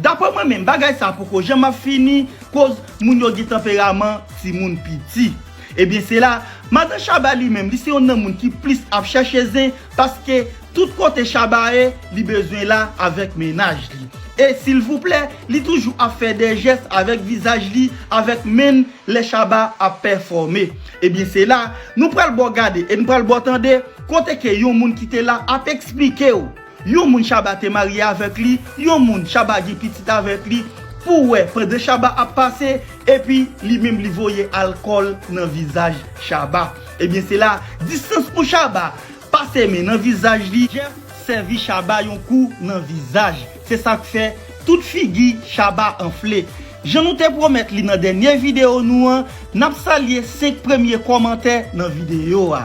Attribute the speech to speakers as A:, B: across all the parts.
A: Daprè mwen menm bagay sa poko janm ap fini koz moun yo gen tanperaman timoun piti. Ebyen se la madan Shaba li menm li se yon nan moun ki plis ap chèche zen paske tout kote Shaba ye li bezwen la avèk mennaj li e silvouplè li toujou ap fè dè jès avèk vizaj li avèk menn lè Shaba ap pèfòme ebyen se la nou pral baw gade e nou pral baw tande kote ke yon moun ki te la ap eksplikew Yon moun Shabba te marye avèk li, yon moun Shabba gen pitit avèk li, pou wè pandan Shabba ap pase, epi li menm li voye alkòl nan vizaj Shabba. Ebyen se la, distans pou Shabba pase men nan vizaj li, Jeff sèvi Shabba yon kou nan vizaj, se sa k fè tout figi Shabba anfle. Jan nou te pwomèt li nan dènye videyo nou an, n ap salye 5 premye kòmantè nan videyo a.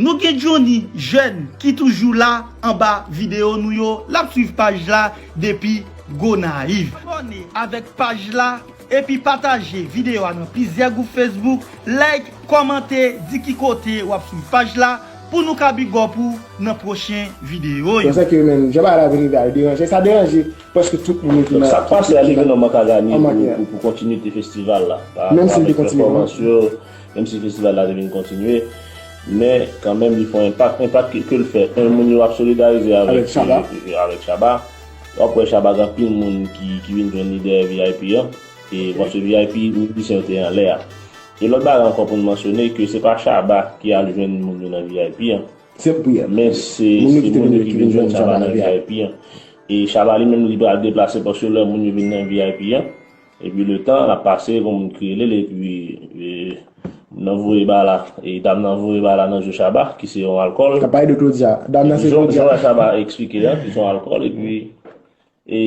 A: Nou gen Johnny jèn ki toujou la anba video nou yo lap swiv paj la depi Gonayiv. Abòne avèk paj la epi pataje video a nan plizyè gwoup Facebook, like, kòmante, di ki kote wap swiv paj la pou nou ka big up ou nan pwochen video yo. Bon sa ki yo menm, jan
B: bagay la vin rive a yo deranje, sa deranje prèske tout moun yo ki nan Sak pase a Ligue 1
C: an manka ganye pou kontinite festival la avèk pèfòmans
B: yo. Menm si
C: festival la te vin kontinye, men kanmenm li fè yon enpak, enpak ke l fè 1 moun yo ap solidarize avèk Shabba, w ap wè Shabba gen anpil moun ki vin jwenn li dèyè vip an, e paske vip mizisyen yo te anlè a. E lòt bagay ankò pou n mansyone ke se pa Shabba ki al jwenn moun yo nan vip an, men
B: se moun yo
C: ki vin jwenn Shabba nan vip an. E Shabba li menm li pral deplase paske lè moun yo vin nan vip an, Epi letan ap pase yon moun kriye li l epi moun nan voye ba la e dam nan voye ba la nan je Chaba ki se yon alkòl. Kap pale de Claudia.
B: Dam nan se Claudia. Jan Chaba eksplike
C: a ki se yon alkòl epi e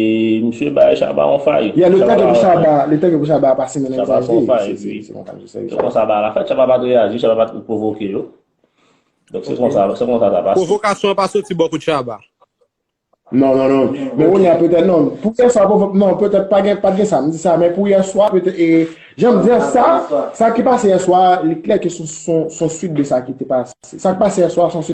C: misye bay Chaba yon fay. Yeah letan ke pou Chaba,
B: letan ke pou Chaba a pase mennen vizaj li. Chaba fè yon fay epi se konsa
C: misye sèvi Chaba. Se konsa ba la fèt Chaba pat reyaji, Chaba pat pwovoke yo. Donk se konsa, se konsa sa pase. Pwovokasyon an pa soti bò
D: kot Chaba. Non,
B: non, non. Men kounye a petèt non. Pou yè swa, non, petèt pa gen, pa gen sa. M di sa, men pou yè swa, petèt, e, jan m di an sa, sa ki pase yè swa, li klè ke son, son, son suit de sa ki te pase. Sa k pase yè swa, son suit.